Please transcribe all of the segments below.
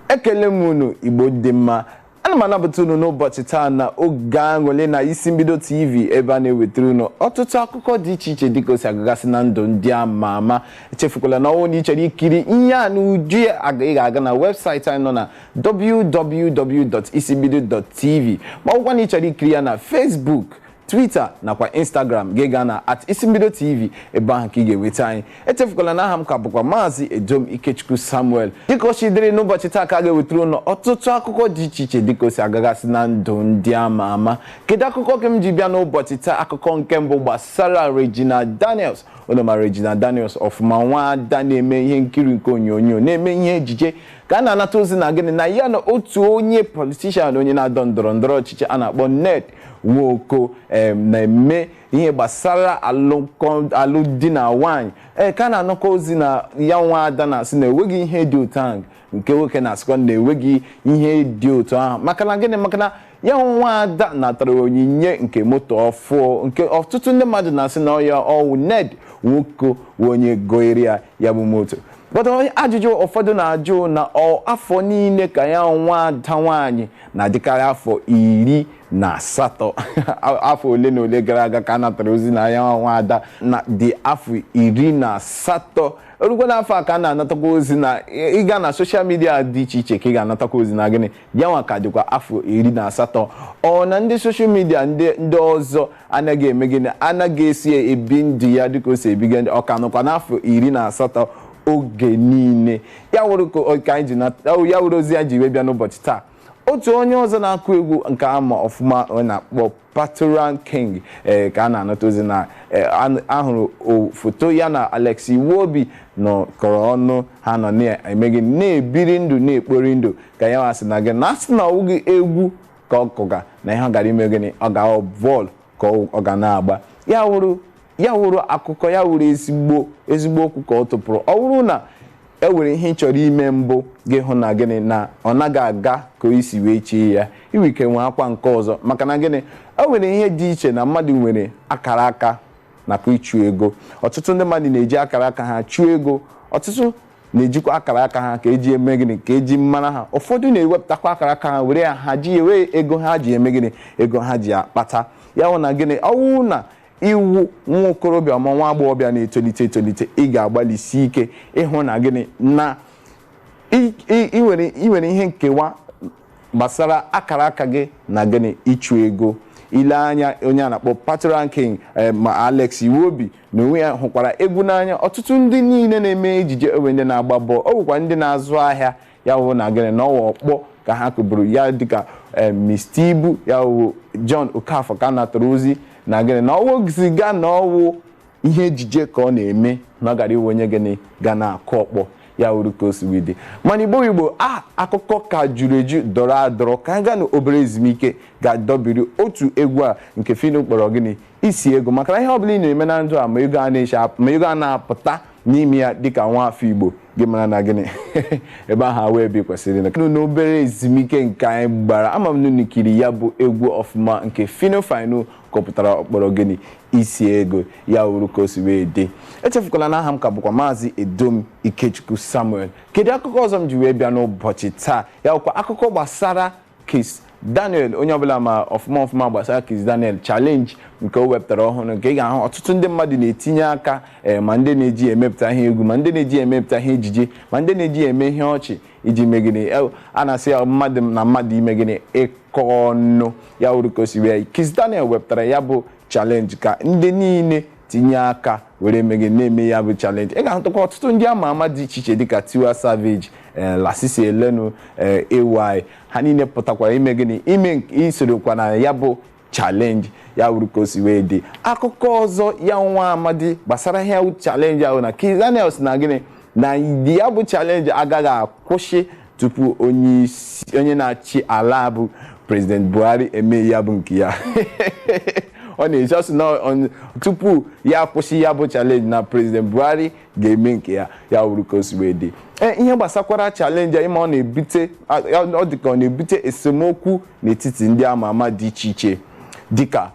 ekele m unu igbo ndị ọma ana m anabata unu n'ụbọchị taa na oge aṅụle na isi mbido tv ebe a na-ewetara unu ọtụtụ akụkọ dị iche iche dịka o si agagasị na ndụ ndị ama ama echefukwala na ọwụ na ị chọrọ ikiri ihe a na uju ya ị ga-aga na webụsaịtị anyị nọ na www.isimbido.tv ma ọ bụkwa na ị chọrọ ikiri ya na facebook Twitter nakwa Instagram gị gaa na at isimbido tv ebe ahụ ka ị ga-enweta anyị echefukwala na aha m ka bụkwa maazị Edom Ikechukwu Samuel dịka o si dịrị n'ụbọchị taa ka a ga-ewetara unu ọtụtụ akụkọ dị iche iche dịka o si agagasị na ndụ ndị ama ama kedu akụkọ ka m ji bịa n'ụbọchị taa akụkọ nke mbụ gbasara Regina Daniels unu ma Regina Daniels ọfụma nwa ada na-eme ihe nkiri nke onyonyo na-eme ihe ejije ka a na-anata ozi na gịnị na ya na otu onye politishan onye na-adọ ndọrọ ndọrọ ọchịchị a na-akpọ Ned Nwoko em, na-eme ihe gbasara alụmdi na nwaanyị ee ka a na-anụkwa ozi na ya nwa ada na-asị na enweghị ihe dị otu ahụ nke nwoke na-asịkwa na enweghị ihe dị otu ahụ maka na gịnị maka na ya nwa ada natara onyinye nke moto ọfụ nke ọtụtụ ndị mmadụ na-asị na ọ ya ọwụ Ned Nwoko wụ onye goere ya ya bụ moto but ajụjụ ụfọdụ na-ajụ na ọ afọ niile ka ya nwa ada nwaanyị na-adịkarị afọ iri na asatọ afọ ole na ole gara aga ka a natara ozi na ya nwa ada na dị afọ iri na asatọ o rukwa n'afọ a ka a na-anatakwa ozi na ịga na soshal midia dị iche iche ka ị ga-anatakwa ozi na gịnị ya nwa ka dịkwa afọ iri na asatọ ọ na ndị soshal midia ndị ọzọ anaghị eme gịnị anaghị esi ebi ndụ ya dịka o si ebiga ndụ ọ ka nọkwa n'afọ iri na asatọ oge niile ya wụrụ ka o- ka anyị ji na ya wụrụ ozi anyị ji wee bịa n'ụbọchị taa otu onye ọzọ na-akụ egwu nke a ma ọfụma a na-akpọ Patoranking ee ka a na-anata ozi na ee, a- ahụrụ o- foto ya na Alex Iwobi nọkọrọ ọnụ ha nọ na-eme gịnị na-ebiri ndụ na-ekpori ndụ ka ya nwa sị na gịnị na a sị na ọ wụghị egwu ka ọ kụga na ihe ọ gara ime gịnị ọ ga-awụ bọọlụ ka ọ ga na-agba ya wụrụ akụkọ ya wụrụ ezigbo okwu ka ọ tụpụrụ ọ wụrụ na e nwere ihe ị chọrọ ime mbụ gị hụ na gịnị na ọ naghị aga ka i si wee chee ya i nwe ike nwaakwa nke ọzọ maka na gịnị e nwere ihe dị iche na mmadụ nwere akara aka nakwa ịchụ ego ọtụtụ ndị mmadụ na-eji akara aka ha chụọ ego ọtụtụ na-ejikwa akara aka ha ka eji eme gịnị ka eji mara ha ụfọdụ na-ewepụtakwa akara aka ha were ya ha ji wee ego ha ji eme gịnị ego ha ji akpata ya wụ na gịnị ọwụ na ị wụ nwa okorobịa ma nwa agbọghọbịa na-etolite etolite ị ga-agbalịsi ike ịhụ na gịnị na ị nwere ihe nkewa gbasara akara aka gị na gịnị ịchụ ego i lee anya onye a na-akpọ patoranking ma alex iwobi N'onwe ya hụkwara egwu n'anya. Ọtụtụ ndị niile na-eme ejije e nwee ndị na-agba bọọlụ, ọ bụkwa ndị na-azụ ahịa ya wụ na gịnị na ọ wụ ọkpọ ka ha kụburu ya dịka eh, Mr. Ibu ya wụ John Okafor ka a natara ozi na gịnị na ọ wụzighị na ọ wụ ihe ejije ka ọ na-eme na ọ gara ịwụ onye gịnị ga na-akụ ọkpọ ya wuru ka o si wee dị mana ugbu ugbu a akụkọ ka juru eju dọrọ adọrọ ka anyị gaa na obere ezumike ga-adọbiri otu egwu a nke Phyno kpọrọ gịnị isi ego maka na ihe ọbụla ị na-eme na ndụ a ma ego a na-eche ap- ma ego a na-apụta n'ime ya dịka nwa afọ igbo gị mara na gịnị ebe ahụ awụ ebe ị kwesịrị ịnọ. Nnọọ n'obere ezumike nke anyị gbara ama m na unu kiri ya bụ egwu ọfụma nke Phyno Phyno kọpụtara ọ kpọrọ gịnị isi ego ya wuru ka o si wee dị echefukwala na aha m ka bụkwa maazị edom ikechukwu samuel kedu akụkọ ọzọ m ji wee bịa n'ụbọchị taa ya bụkwa akụkọ gbasara Kiss Daniel onye ọbụla ma ọfụma ọfụma gbasara Kiss Daniel challenge nke o wepụtara ọhụrụ nke ị ga-ahụ ọtụtụ ndị mmadụ na-etinye aka ee ma ndị na-eji ya emepụta ihe egwu ma ndị na-eji ya emepụta ihe ejije ma ndị na-eji ya eme ihe ọchị iji mee gịnị Eh, a na-asị ya mmadụ na mmadụ ime gịnị ịkọ ọnụ ya wuru ka o si wee Kiss Daniel wepụtara ya bụ challenge ka ndị niile tinye aka were eme gịnị na-eme ya bụ challenge ị ga-ahụtakwa ọtụtụ ndị ama ama dị iche iche dịka Tiwa Savage eh, Lasisi Elenu eh, AY ha niile pụtakwara ime gịnị ime nke- isorokwa na ya bụ challenge ya wuru ka o si wee dị akụkọ ọzọ ya nwa amadi gbasara ihe challenge ahụ na Kizz Daniel sị na gịnị na ya bụ challenge agaghị akwụsị tupu onye isi- onye na-achị ala a bụ president buhari eme ya bụ nke ya ọ na-eji ọ sị na ọ- tupu ya kwụsị ya bụ challenge na president buhari ga-eme nke ya ya wuru ka o si wee dị Ee, ihe gbasakwara challenge a ị ma ọ na-ebute ọ dị ka ọ na-ebute esemokwu n'etiti ndị ama ama dị iche iche dịka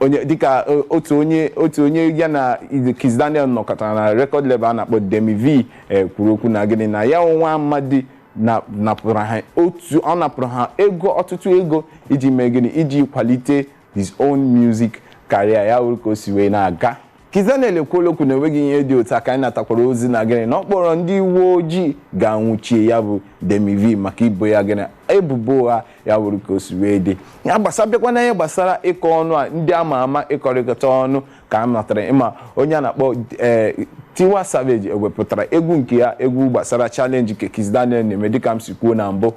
onye dịka eh, otu onye otu onye ya na Kizz Daniel nọkọtara na record label a na-akpọ Demmie Vee eh, kwuru okwu na gịnị na ya nwa amadi na napụrụ ha otu ọ napụrụ ha ego ọtụtụ ego iji mee gịnị iji kwalite his own music career ya wuru ka o si wee na-aga Kizz Daniel ekwuola okwu na enweghị ihe dị otu a ka anyị natakwara ozi na gịnị na ọ kpọrọ ndị uwe ojii ga-anwụchie ya bụ Demmie Vee maka ibo ya gịnị ebubo ụgha ya wuru ka o si wee dị ya gbasa bịakwa na ihe gbasara ịkọ ọnụ a ndị ama ama ịkọrịkọta ọnụ ka a matara ị ma onye a na-akpọ ee Tiwa Savage o wepụtara egwu nke ya egwu gbasara challenge nke Kizz Daniel na-eme dịka m si kwuo na mbụ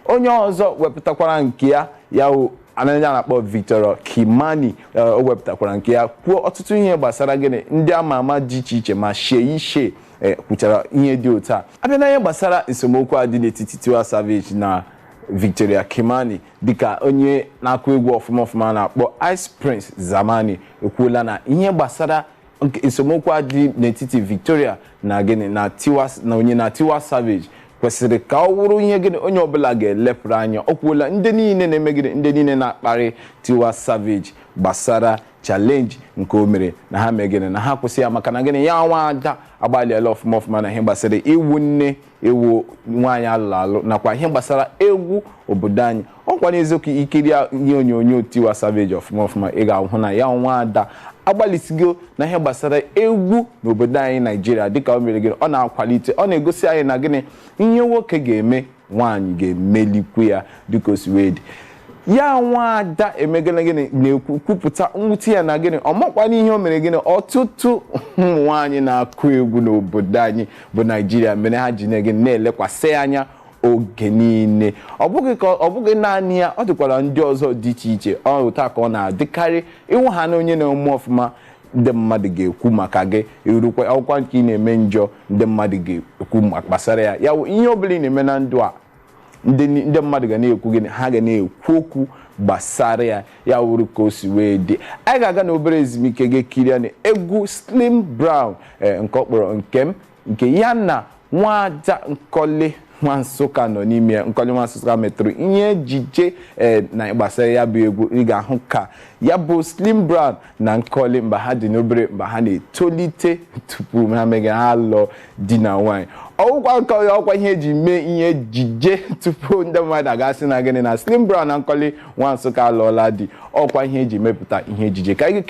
onye ọzọ wepụtakwara nke ya ya a na- onye a na-akpọ Victoria Kimani eh, o wepụtakwara nke ya kwuo ọtụtụ ihe gbasara gịnị ndị ama ama dị iche iche ma Seyi Shay eh, kwuchara ihe dị otu a a bịa na ihe gbasara esemokwu a dị n'etiti Tiwa Savage na Victoria Kimani dịka onye na-akụ egwu ọfụma ọfụma a na-akpọ Ice Prince Zamani ekwuola na ihe gbasara Nke esemokwu a dị n'etiti Victoria na gịnị na Tiwa na onye na Tiwa Savage kwesịrị ka ọ wụrụ ihe gịnị onye ọbụla ga-elepụrụ anya ọ kwuola ndị niile na-eme gịnị ndị niile na-akparị Tiwa Savage gbasara challenge nke o mere na ha mee gịnị na ha kwụsị ya maka na gịnị ya nwa ada agbalịala ọfụma ọfụma na ihe gbasara ịwụ nne ịwụ nwaanyị a lụrụ alụ nakwa ihe gbasara egwu obodo anyị ọkwa n'eziokwu i kirie ihe onyonyo Tiwa Savage ọfụma ọfụma ị ga-ahụ na ya nwa ada agbalịsigo na ihe gbasara egwu n'obodo anyị naijiria dịka o mere gịnị ọ na-akwalite ọ na-egosi anyị na gịnị ihe nwoke ga-eme nwaanyị ga-emelikwu ya dịka o si wee dị ya nwa ada emegana gịnị na-ekwupụta mwute ya na gịnị ọ makwana ihe o mere gịnị ọtụtụ ụmụ nwaanyị na-akụ egwu n'obodo anyị bụ naijiria mere ha ji na-ege na-elekwasị ya anya oge niile ọ bụghị ka ọ bụghị naanị ya ọ dịkwara ndị ọzọ dị iche iche otu a ka ọ na-adịkarị ị wụhana onye na-eme ọfụma ndị mmadụ ga-ekwu maka gị ị wụrụkwa ọ wụkwa nke ị na-eme njọ ndị mmadụ ga-ekwu ma- gbasara ya ya wụ ihe ọ bụla ị na-eme na ndụ a ndị ni- ndị mmadụ ga na-ekwu gịnị ha ga na-ekwu okwu gbasara ya ya wụrụ ka o si wee dị anyị ga-aga na obere ezumike gị kirie na egwu slim brown eh, nke ọ kpọrọ nke m nke ya na nwada nkọli nwa nsụka nọ n'ime ya nkọli nwa nsụka metụrụ ihe ejije eh, na gbasara ya bụ egwu ị ga-ahụ ka ya bụ slim brown na nkọli mgbe ha dị n'obere mgbe ha na-etolite tupu ha mee gịnị ha lụọ di na nwaanyị ọ wụkwa nkọli ọ wụkwa ihe e ji mee ihe ejije tupu ndị mmadụ agaa sị na gịnị na Slim Brown na nkọli nwa Nsụka alụọla di ọ wụkwa ihe e ji mepụta ihe ejije ka anyị